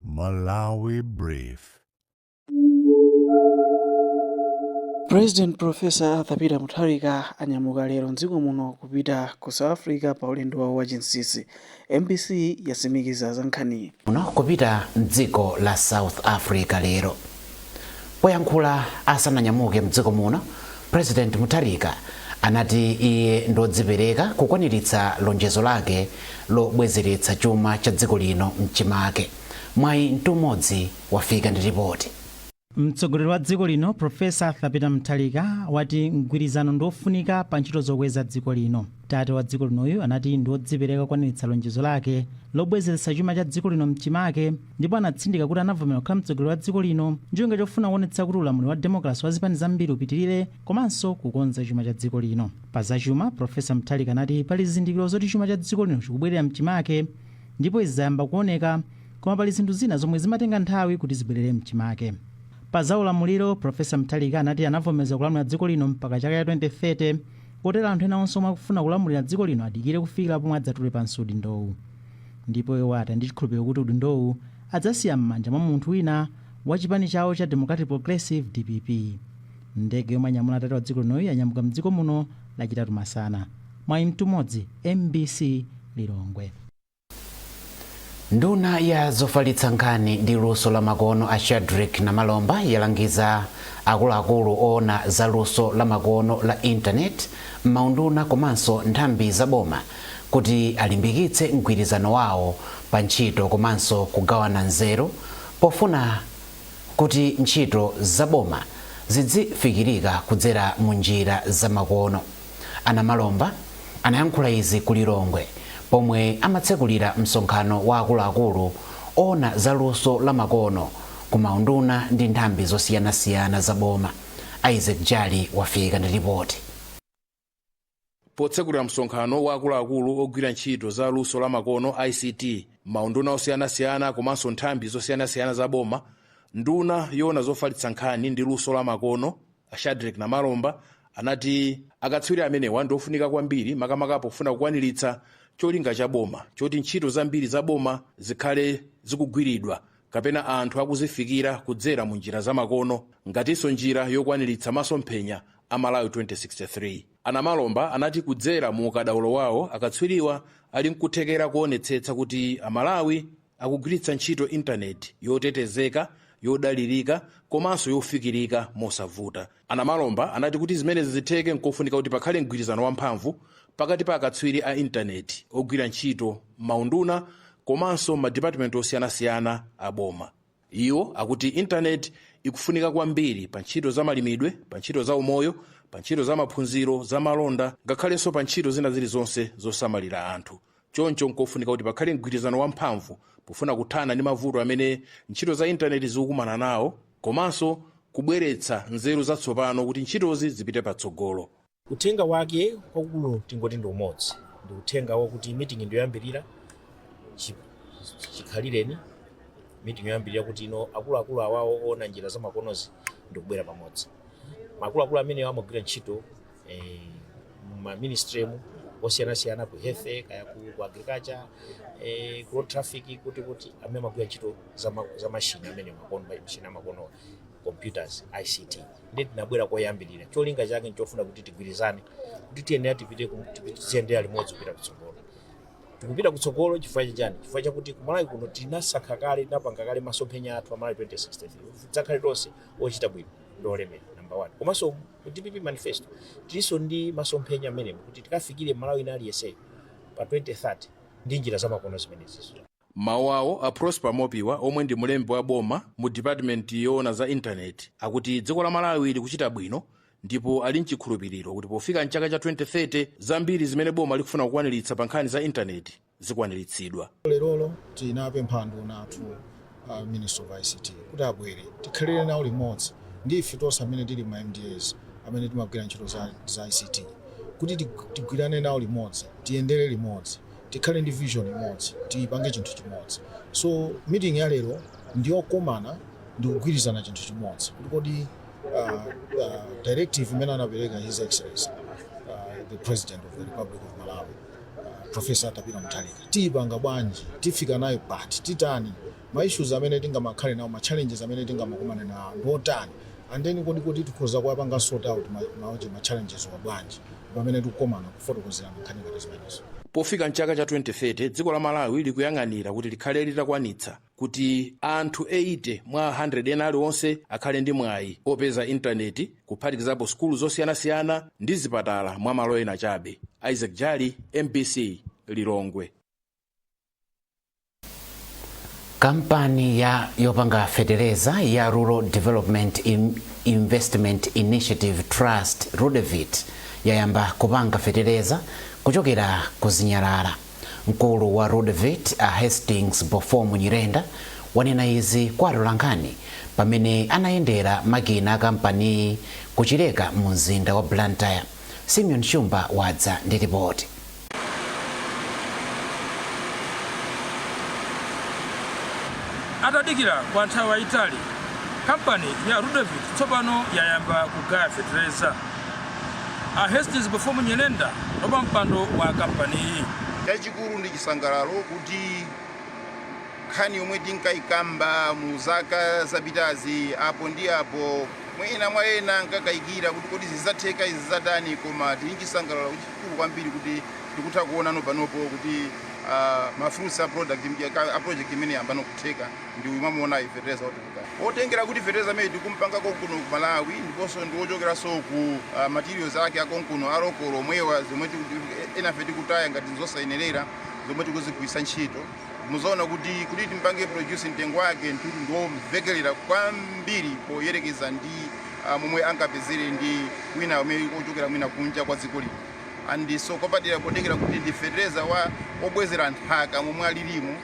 Malawi Brief. President Professor Arthur Peter Mutharika anyamuka lero mdziko muno kupita ku South Africa pa ulendo wawo wa chinsisi. MBC yasimikiza za nkhaniyi. Muno kupita mdziko la South Africa lero. Poyankhula asananyamuke mdziko muno, President Mutharika anati iye ndiodzipereka kukwaniritsa lonjezo lake lobwezeretsa chuma cha dziko lino mchimake. Mwayi Mtumodzi, wafika ndi ripoti. Mtsogoleri wa dziko lino Prof. Arthur Peter Mutharika wati mgwirizano ndiofunika pa ntchito zokweza dziko lino. Tate wa dziko linoyu anati ndiodzipereka kukwaniritsa lonjezo lake lobwezeretsa chuma cha dziko lino mchimake. ndipo anatsindika kuti anavomera kukhala mtsogoleri wa dziko lino ncholinga chofuna kuonetsa kuti ulamuliro wa demokalase wa zipani zambiri upitirire komanso kukonza chuma cha dziko lino pa zachuma profesa mutharika anati pali zizindikiro zoti chuma cha dziko lino chikubwerera mchimake ndipo izi zayamba kuoneka koma pali zinthu zina zomwe zimatenga nthawi kuti zibwerere mchimake pa za ulamuliro profesa mutharika anati anavomeza kulamulira dziko lino mpaka chaka cha 2030 kotero anthu ena onse omwe akufuna kulamulira dziko lino adikire kufikira pomwe adzatule pansi udindowu Ndipo iwo ati ali ndi chikhulupiliro kuti udindowu adzasiya mmanja mwa munthu wina wa chipani chawo cha Democratic Progressive, dpp. Ndege yomwe yanyamula tate wa dziko linoyu yanyamuka mdziko muno lachitatu masana. Mwayi Mtumodzi, mbc Lilongwe. Nduna ya zofalitsa nkhani ndi luso la makono a Shadric Namalomba yalangiza akuluakulu oona za luso la makono la intaneti m'maunduna komanso nthambi za boma kuti alimbikitse mgwirizano wawo pa ntchito komanso kugawana nzeru pofuna kuti ntchito za boma zidzifikirika kudzera mu njira za makono. A Namalomba anayankhula izi ku Lilongwe pomwe amatsekulira msonkhano wa akuluakulu oona za luso la makono ku maunduna ndi nthambi zosiyanasiyana za boma. Isaac Jali wafika ndi lipoti. potsekulira msonkhano wa akuluakulu ogwira ntchito za luso la makono ict mmaunduna osiyanasiyana komanso nthambi zosiyanasiyana za boma nduna yoona zofalitsa nkhani ndi luso la makono a shadric namalomba anati akatswiri amenewa ndi ofunika kwambiri makamaka pofuna kukwaniritsa cholinga cha boma choti ntchito zambiri za boma zikhale zikugwiridwa kapena anthu akuzifikira kudzera mu njira zamakono ngatinso njira yokwaniritsa masomphenya a Malawi 2063. A Namalomba anati kudzera mu ukadaulo wawo, akatswiriwa ali nkuthekera kuonetsetsa kuti a Malawi akugwiritsa ntchito intaneti yotetezeka, yodalirika komanso yofikirika mosavuta. A Namalomba anati kuti zimenezi zitheke nkofunika kuti pakhale mgwirizano wamphamvu pakati pa akatswiri a intaneti ogwira ntchito mmaunduna komanso mmadipatimenti osiyanasiyana a boma. Iwo akuti Intaneti ikufunika kwambiri pa ntchito za malimidwe, pa ntchito za umoyo, pa ntchito za maphunziro, za malonda, ngakhalenso pa ntchito zina zilizonse zosamalira anthu. Choncho n'kofunika kuti pakhale mgwirizano wamphamvu pofuna kuthana ndi mavuto amene ntchito za Intaneti zikukumana nawo komanso kubweretsa nzeru zatsopano kuti ntchitozi zipite patsogolo. Uthenga wake kwakulu tingoti ndi umodzi, ndi uthenga wakuti meeting ndi yoyambirira chi- chikhalireni meeting yoyambirira kuti ino akuluakulu awawo oona njira zamakonozi ndi kubwera pamodzi. Akuluakulu amenewa amagwira ntchito eh, ma ministry-mu osiyanasiyana ku health kaya ku, ku agriculture eh, ku road traffic kuti kuti amene amagwira ntchito za ma- za mashini amene makono mashini amakono computers ICT ndiye tinabwera koyambirira cholinga chake nchofuna kuti tigwirizane kuti tiyenera tipite ku- tipi- tiziyendera limodzi kupita kutsogolo tikupita kutsogolo chifukwa chachani chifukwa chakuti kumalawi kuno tinasankha kale tinapanga kale masomphenya athu a Malawi 2063 tidzakhale tonse ochita bwino ndi olemera number one komanso ku dpp manifesto tilinso ndi masomphenya amenewo kuti tikafikire m'Malawi wina aliyenseyo pa 2030 ndi njira zamakono zimenezizo M'mawu awo, a Prosper Mopiwa omwe ndi mlembi wa boma mu dipatimenti yoona za intaneti akuti dziko la Malawi likuchita bwino ndipo ali n'chikhulupiriro kuti pofika m'chaka cha 2030 zambiri zimene boma likufuna kukwaniritsa pa nkhani za intaneti zikwaniritsidwa. Lerolo tinapempha anduna athu a Ministry of ICT kuti abwere tikhalire nawo limodzi ndi ife tonse amene tili ma MDAs amene timagwira ntchito za, za ICT kuti tig- tigwirane nawo limodzi tiyendere limodzi tikhale ndi vision imodzi tipange chinthu chimodzi so meeting ya lero ndiyokomana ndikugwirizana chinthu chimodzi kuti kodi uh, uh, directive imene anapereka his excellency uh, the president of the republic of malawi uh, professor Arthur Peter Mutharika tiyipanga bwanji tifika nayo pati titani Ma issues amene tingamakhale nawo, ma challenges amene tingamakumane nawo ndi otani and then kodi kodi tikhoza kuwapanga sort out ma maunje ma challenges-wa bwanji pamene tikukomana kufotokozerana nkhani ngati zimenezo. Pofika m'chaka cha 2030, dziko la Malawi likuyang'anira kuti likhale litakwanitsa kuti anthu 80 mwa 100 ena aliwonse akhale ndi mwayi opeza intaneti kuphatikizapo sukulu zosiyanasiyana ndi zipatala mwa malo ena chabe. Isaac Jali, mbc, Lilongwe. kampani ya yopanga fetereza ya rural development investment initiative trust rudevit yayamba kupanga fetereza kuchokera ku zinyalala mkulu wa rudevit a hastings bofomu nyirenda wanena izi kwa atolankhani pamene anayendera makina a kampaniyi kuchileka mu mzinda wa blantyre simeon shumba wadza ndi ripoti atadikira kwa nthawi yayitali kampani ya rudevit tsopano yayamba kugaya fetereza a hastings bofomu nyirenda ndi wapampando wa kampaniyi chachikulu ndi chisangalalo kuti nkhani yomwe tinkayikamba mu zaka zapitazi apo ndi apo mwina mwa ena ankakayikira kuti kodi zidzatheka izi zatani koma tili ndi chisangalalo kuti kulu kwambiri kuti tikutha kuonano panopo kuti ah, ma fruits a product mja- ka- a project imene yambano kutheka ndi uyu mwamuonayu fetereza otuluka otengera kuti fetereza amene tikumpanga konkuno ku malawi ndiponso ndi wochokeranso ku ah, materials ake akonkuno a local omwewa zomwe enafe tikutaya ngati zosayenerera zomwe tikuzigwiritsa ntchito muzaona kuti kuti timpange produce mtengo wake ndithu ndiwomvekelera kwambiri poyerekeza ndi uh, momwe angapezere ndi wina amene ochokera mwina kunja kwa dziko lino and so kupatula potengera kuti ndi fetereza wobwezera nthaka momwe alilimu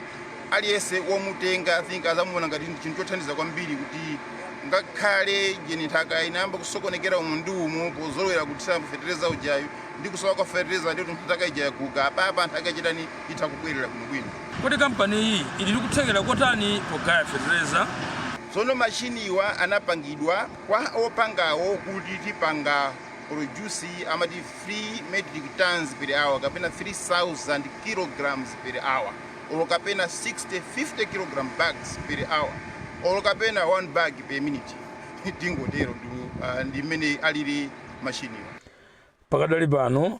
aliyense womutenga i think azamuona ngati ndi chinthu chothandiza kwambiri kuti ngakhale ujeni nthaka inayamba kusokonekera umu ndi umu pozolowera kuthira fetereza ujayu ndi kusowa kwa fetereza ndiyo nthaka ija yaguga apapa nthaka ichitani itha kubwerera bwinobwino Kodi kampaniyi ili ndi kuthekera kotani pogaya fetereza? Tsono machiniwa anapangidwa kwa opangawo kuti tipange produce amati 3 metric tonnes per hour kapena 3000 kg per hour or kapena 60 50 kilogram bags per hour or kapena 1 bag per minute tingoterotu ndi mmene alili machiniwa. Pakadali pano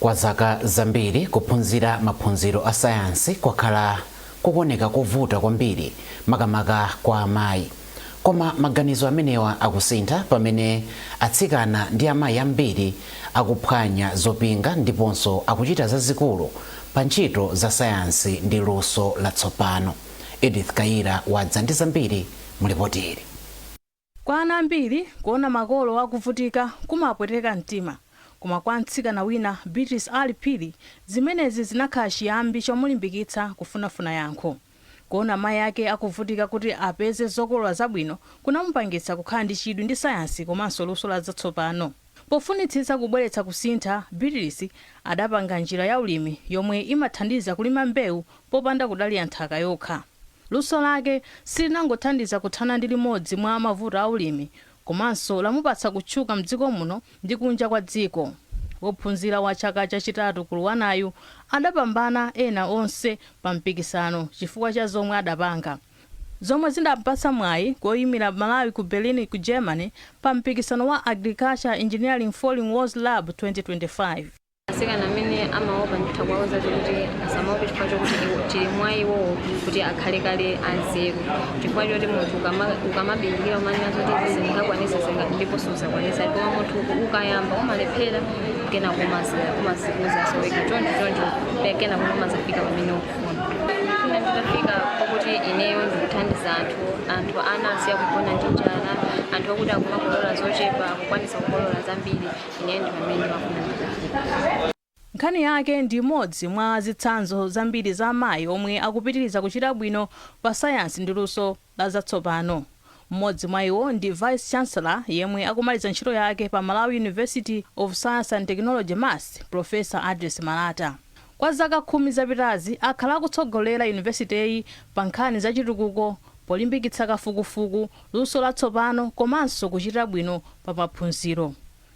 Kwa zaka zambiri, kuphunzira maphunziro a sayansi kwakhala kukuoneka kovuta kwambiri, makamaka kwa amayi. Koma maganizo amenewa akusintha pamene atsikana ndi amayi ambiri akuphwanya zopinga ndiponso akuchita zazikulu pa ntchito za sayansi ndi luso latsopano. Edith Kayira wadza ndi zambiri mu lipoti ili. Kwa ana ambiri, kuona makolo akuvutika kumawapweteka mtima. Koma kwa mtsikana wina, Beatrice Ali Phiri, zimenezi zinakhala chiyambi chomulimbikitsa kufunafuna yankho. Kuona mayi ake akuvutika kuti apeze zokolola zabwino kunamupangitsa kukhala ndi chidwi ndi sayansi komanso luso la zatsopano. Pofunitsitsa kubweretsa kusintha, Beatrice adapanga njira ya ulimi yomwe imathandiza kulima mbewu popanda kudalira nthaka yokha. Luso lake silinangothandiza kuthana ndi limodzi mwa mavuto a ulimi, komanso lamupatsa kutchuka m'dziko muno ndi kunja kwa dziko. Wophunzira wa chaka chachitatu ku LUANAR-yu adapambana ena onse pa mpikisano chifukwa cha zomwe adapanga. zomwe zidampatsa mwayi woyimira Malawi ku Berlin ku Germany pa mpikisano wa Agriculture Engineering Falling Walls Lab 2025. Atsikana amene amaopa nditha kuwauza kuti asamaope chifukwa chokuti iwo- chili mwa iwowo kuti akhale kale anzeru chifukwa choti munthu ukama- ukamabindikira umanena zoti izi sindingakwanisa zinga ndipo suzakwanisa koma munthu uku- ukayamba umalephera kena kumadzidzutsaso wekha choncho choncho pe- kena kumazafika pamene ukufuna Ndifuna nditafika pakuti ineyo ndikuthandiza anthu anthu ana asiya kugona ndi njala anthu okuti akumakolola zochepa akukwanisa kukolola zambiri ineyo ndi pamene ndimafuna nditafika Nkhani yake ndi imodzi mwa zitsanzo zambiri za amayi omwe akupitiriza kuchita bwino pa sayansi ndi luso. la zatsopano. M'modzi mwa iwo ndi Vice Chancellor yemwe akumaliza ntchito yake pa Malawi University of Science and Technology, MUST, Professor Address Malata. Kwa zaka khumi zapitazi akhala akutsogolera Yunivesiteyi pa nkhani za chitukuko polimbikitsa kafukufuku, luso latsopano komanso kuchita bwino pa maphunziro.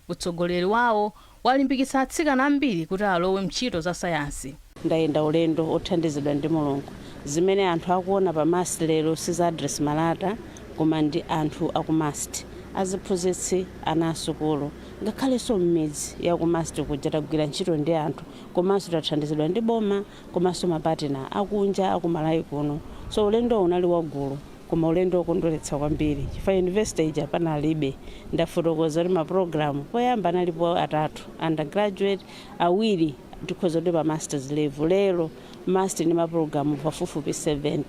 Utsogoleri wawo walimbikitsa atsikana ambiri kuti alowe m'ntchito za sayansi. Ndayenda ulendo wothandizidwa ndi Mulungu. Zimene anthu akuona pa MUST lero si za Address Malata koma ndi anthu a ku MUST. Aziphunzitsi, ana a sukulu, ngakhalenso m'midzi ya ku MUST kuja tagwira ntchito ndi anthu komanso tathandizidwa ndi boma. komanso ma partner akunja aku Malawi kuno so ulendowu unali wagulu koma ulendo okondweretsa kwambiri chifukwa university ija panalibe ndafotokoza kuti ma program poyamba analipo atatu undergraduate, awiri tikhoza kuti pa masters level lero MUST ndi ma program pafupifupi 70.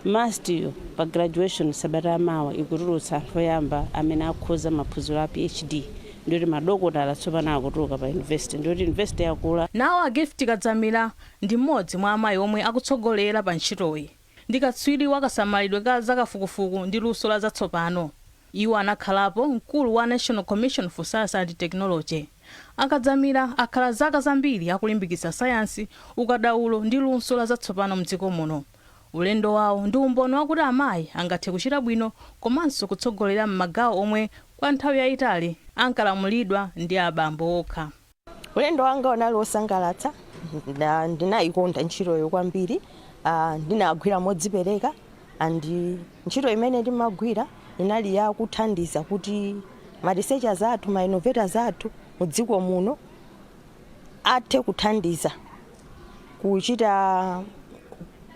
MUST yo pa graduation sabata ya mawa ikutulutsa anthu oyamba amene akhoza maphunziro a PhD. Ndiye kuti madokotala tsopano akutuluka pa university. Ndiye kuti university yakula. Nawo a Gift Kadzamira ndi m'modzi mwa amayi omwe akutsogolera pa ntchitoyi. Ndi katswiri wa kasamalidwe ka za kafukufuku ndi luso la zatsopano. Iwo anakhalapo mkulu wa National Commission for Science and Technology. A Kadzamira akhala zaka zambiri akulimbikitsa sayansi, ukadaulo ndi luso la zatsopano mdziko muno. Ulendo wawo ndi umboni wakuti amayi angathe kuchita bwino komanso kutsogolera m'magawo omwe kwa nthawi yayitali ankalamulidwa ndi abambo okha. Ulendo wanga unali wosangalatsa. Ndinayikonda ntchitoyo kwambiri. Ndinagwira modzipereka and ntchito imene ndimagwira inali ya kuthandiza kuti ma researchers athu, ma innovators athu mu dziko muno athe kuthandiza. kuchita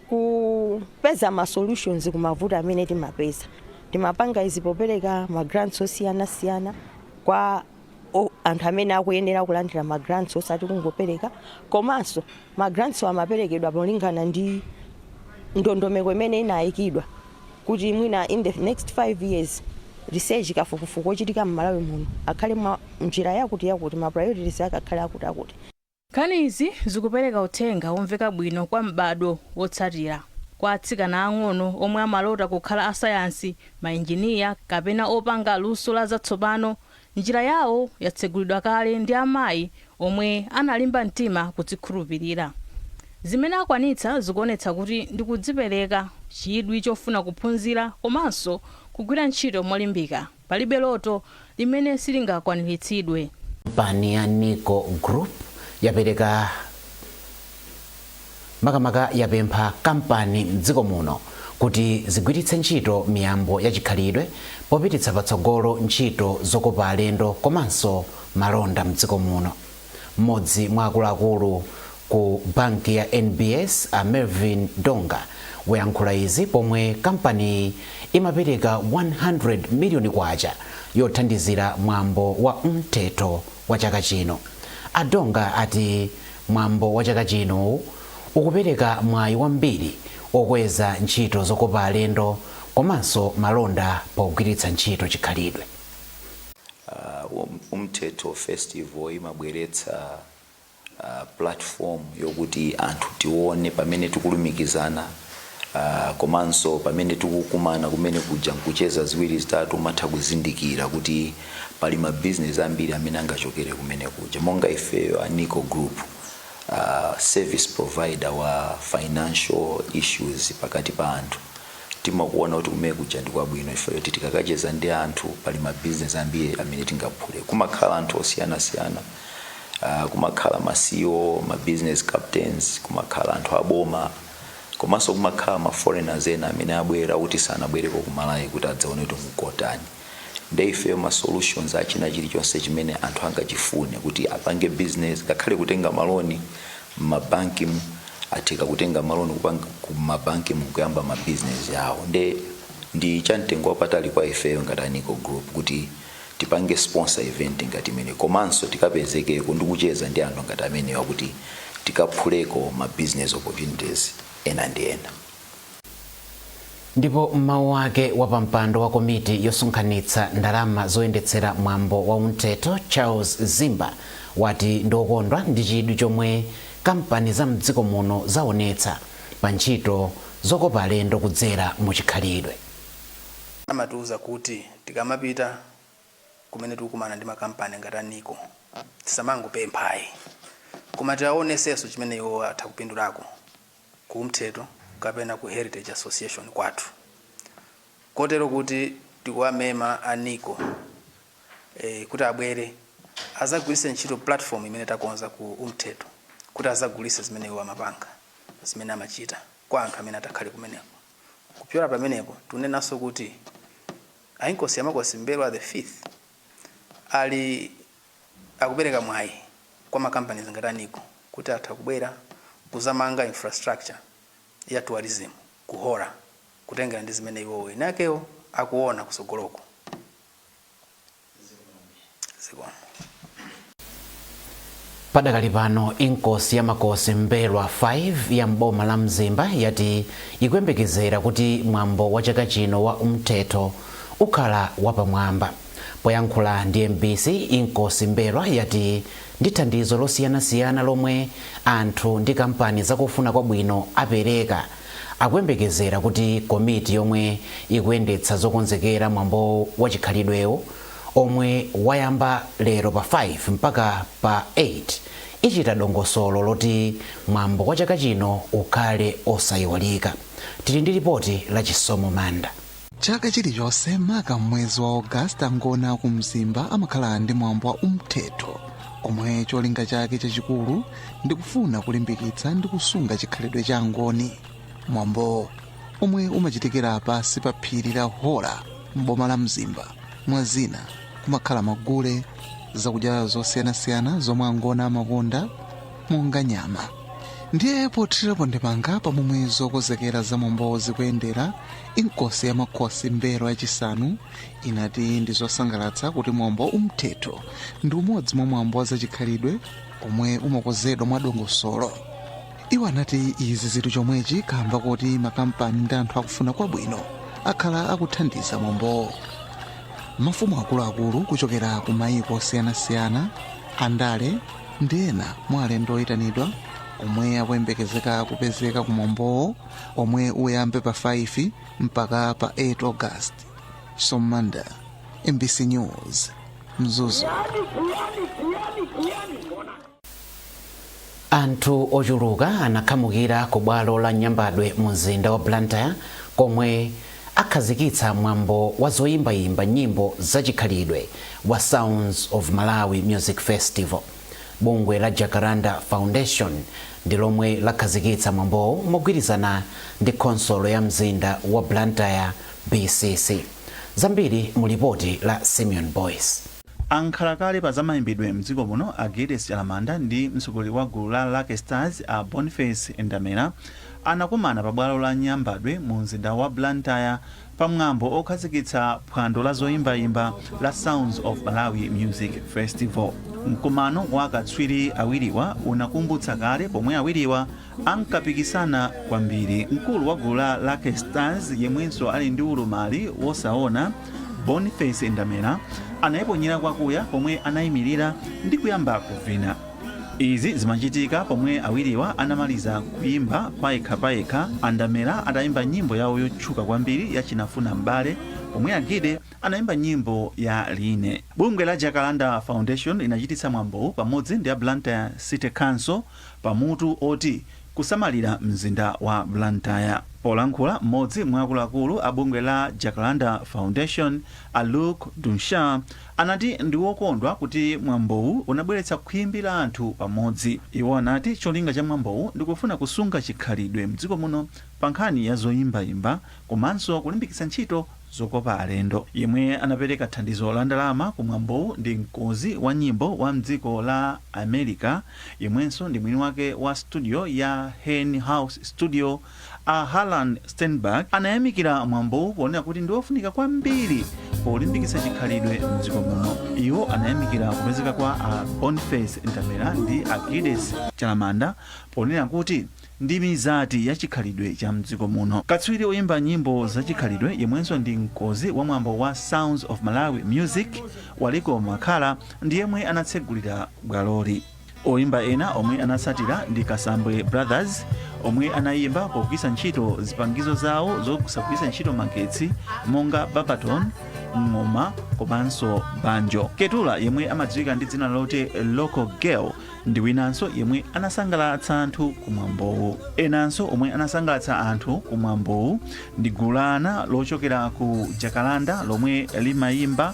kupeza ma solutions kumavuto amene timapeza timapanga izi popereka ma grants osiyanasiyana kwa o- anthu amene akuyenera kulandira ma grants osati kungopereka komanso ma grants amaperekedwa polingana ndi ndondomeko imene inayikidwa kuti mwina in the next five years research kafukufuku ochitika m'Malawi muno akhale mu njira yakuti yakuti ma priorities ake akhale akuti akuti Nkhani izi zikupereka uthenga womveka bwino kwa m'badwo wotsatira, kwa atsikana aang'ono omwe amalota kukhala asayansi, mainjiniya, kapena opanga luso la zatsopano, njira yawo yatsegulidwa kale ndi amayi omwe analimba mtima kudzikhulupirira. Zimene akwanitsa zikuonetsa kuti ndi kudzipereka, chidwi chofuna kuphunzira, komanso kugwira ntchito molimbika. Palibe loto limene silingakwaniritsidwe. Kampani ya Nico Group yapereka makamaka yapempha kampani m'dziko muno kuti zigwiritse ntchito miyambo ya chikhalidwe popititsa patsogolo ntchito zokopa alendo komanso malonda m'dziko muno. M'modzi mwa akuluakulu ku banki ya NBS a Mervin Donga wayankhula izi pomwe kampaniyi imapereka K100 miliyoni yothandizira mwambo wa Umthetho wa chaka chino. A Donga ati mwambo wa chaka chino ukupereka mwayi wambiri okweza ntchito zokopa alendo komanso malonda pogwiritsa ntchito chikhalidwe. Umthetho festival imabweretsa platform yokuti anthu tione pamene tikulumikizana komanso pamene tikukumana kumene kuja nkucheza ziwiri zitatu umatha kuzindikira kuti pali ma business ambiri amene angachokere kumene kuja monga ifeyo a Nico Group uh, service provider wa financial issues pakati pa anthu timakuona kuti kumene kuja ndi kwabwino chifukwa choti tikakacheza ndi anthu pali ma business ambiri amene tingaphule kumakhala anthu osiyanasiyana uh, kumakhala ma CEO ma business captains kumakhala anthu aboma komanso kumakhala ma foreigners ena amene abwera kuti sanabwereko ku Malawi kuti adzaone kuti nkotani nde ifeyo ma solutions achina chilichonse chimene anthu angachifune kuti apange business ngakhale kutenga maloni mmabankimu atheke kutenga maloni kupanga kumabankimu nkuyamba ma business awo nde ndi cha mtengo wapatali kwa ifeyo ngati a Nico Group kuti tipange sponsor event ngati imeneyi komanso tikapezekeko ndi kucheza ndi anthu ngati amenewa kuti tikaphuleko ma business opportunities ena ndi ena Ndipo m'mawu ake wapampando wa komiti yosonkhanitsa ndalama zoyendetsera mwambo wa Umthetho Charles Zimba wati ndiokondwa ndi chidwi chomwe kampani za m'dziko muno zaonetsa pa ntchito zokopa alendo kudzera mu chikhalidwe. Amatiuza kuti tikamapita kumene tikukumana ndi makampani ngati a Nico tisamangopempha ayi koma tiawonesenso chimene iwowo atha kupindulako ku Umthetho kapena ku heritage association kwathu kotero kuti tikuwamema a Nico e, kuti abwere azagwiritse ntchito platform imene takonza ku Umthetho kuti azagulise zimene iwo amapanga zimene amachita kwa anthu amene atakhale kumeneko kupyola pamenepo tunenanso kuti a Inkosi ya Makosi M'mbelwa the fifth ali Akupereka mwayi kwa ma companies ngati a Nico kuti atha kubwera kuzamanga infrastructure ya tourism ku Hora kutengera ndi zimene iwowo eni akewo akuona kusogoloko. Padakali pano, Inkosi ya Makosi M'mbelwa 5 ya m'boma la Mzimba yati ikuyembekezera kuti mwambo wa chaka chino wa Umthetho ukhala wapamwamba. Poyankhula ndi mbc, Inkosi M'mbelwa yati ndi thandizo losiyanasiyana lomwe anthu ndi kampani zakufuna kwabwino apereka, akuyembekezera kuti komiti yomwe ikuyendetsa zokonzekera mwambo wa chikhalidwewu omwe wayamba lero pa 5 mpaka pa 8, ichita dongosolo loti mwambo wa chaka chino ukhale osaiwalika. Tili ndi lipoti la Chisomo Manda. chaka chilichonse maka m'mwezi wa Ogasiti Angoni aku Mzimba amakhala ndi mwambo wa umthetho omwe cholinga chake chachikulu ndi kufuna kulimbikitsa ndi kusunga chikhalidwe cha Angoni mwambowu omwe umachitikira pansi pa phiri la hora m'boma la mzimba mwa zina kumakhala magule zakudya zosiyanasiyana zomwe Angoni amakonda monga nyama ndiye pothirirapo ndemanga pamomwe zokonzekera za mwambowu zikuyendera inkosi ya makhosi m'mbelwa yachisanu inati ndi zosangalatsa kuti mwambo wa umthetho ndi umodzi mwa mwambo wa zachikhalidwe omwe umakonzedwa mwa dongosolo iwo anati izi zili chomwechi kamba kuti makampani ndi anthu akufuna kwabwino akhala akuthandiza mwambowo mafumu akuluakulu kuchokera ku mayiko osiyanasiyana andale ndi ena mwa alendo oyitanidwa omwe akuyembekezeka kupezeka ku mwambowo omwe uyambe pa 5 mpaka pa 8 august somanda mbc news mzuzu anthu ochuluka anakhamukira ku bwalo la nyambadwe mu mzinda wa blantyre komwe akhazikitsa mwambo wa zoyimbayimba nyimbo zachikhalidwe wa sounds of malawi music festival Bungwe la Jacaranda Foundation ndi lomwe lakhazikitsa mwambowu mogwirizana ndi khonsolo ya mzinda wa Blantyre, BCC. Zambiri mu lipoti la Simeon Boyce. A nkhalakale pa zamaimbidwe mdziko muno a Giddes Chalamanda ndi mtsogoleri wa gulu la Lucky Stars a Boniface Ndamera anakumana pa bwalo la Nyambadwe mu mzinda wa Blantyre pamwambo okhazikitsa phwando la zoimbaimba la Sounds of Malawi Music Festival. Mkumano wa akatswiri awiriwa unakumbutsa kale pomwe awiriwa ankapikisana kwambiri. Mkulu wa gulu la Lucky Stars yemwenso ali ndi ulumali wosaona, Boniface Ndamera, anaiponyera kwakuya pomwe anaimilira ndi kuyamba kuvina. Izi zimachitika pomwe awiriwa anamaliza kuyimba payekhapayekha, a Ndamera atayimba nyimbo yawo yotchuka kwambiri ya Chinafuna M'bale pomwe a Gide anayimba nyimbo ya Line. Bungwe la Jacaranda Foundation linachititsa mwambowu pamodzi ndi a Blantyre City Council pa mutu oti Kusamalira mzinda wa Blantyre. Polankhula, m'modzi mwa akuluakulu a bungwe la Jacaranda Foundation, a Luc Deschamps, anati ndi wokondwa kuti mwambowu unabweretsa khwimbi la anthu pamodzi. Iwo anati cholinga cha mwambowu ndi kufuna kusunga chikhalidwe mdziko muno pa nkhani ya zoimbaimba komanso kulimbikitsa ntchito zokopa alendo. Yemwe anapereka thandizo la ndalama ku mwambowu ndi mkonzi wa nyimbo wa mdziko la America yemwenso ndi mwini wake wa studio ya Hen House Studio, A Harlan Steinberger anayamikira mwambowu ponena kuti ndi wofunika kwambiri polimbikitsa chikhalidwe m'dziko muno. Iwo anayamikira kupezeka kwa a Boniface Ndamera ndi a Giddes Chalamanda ponena kuti ndi mizati ya chikhalidwe cha m'dziko muno. Katswiri woimba nyimbo zachikhalidwe yemwenso ndi mkonzi wa mwambo wa Sounds of Malawi Music, Waliko Makhala, ndi yemwe anatsegulira bwaloli. Oimba ena omwe anatsatira ndi Kasambwe Brothers omwe anayimba pogwiritsa ntchito zipangizo zawo zosagwiritsa ntchito magetsi monga babaton, ng'oma komanso banjo. Keturah yemwe amadziwika ndi dzina loti Local Girl ndi winanso yemwe anasangalatsa anthu kumwambowu. Enanso omwe anasangalatsa anthu kumwambowu ndi gulu la ana lochokera ku Jacaranda lomwe limayimba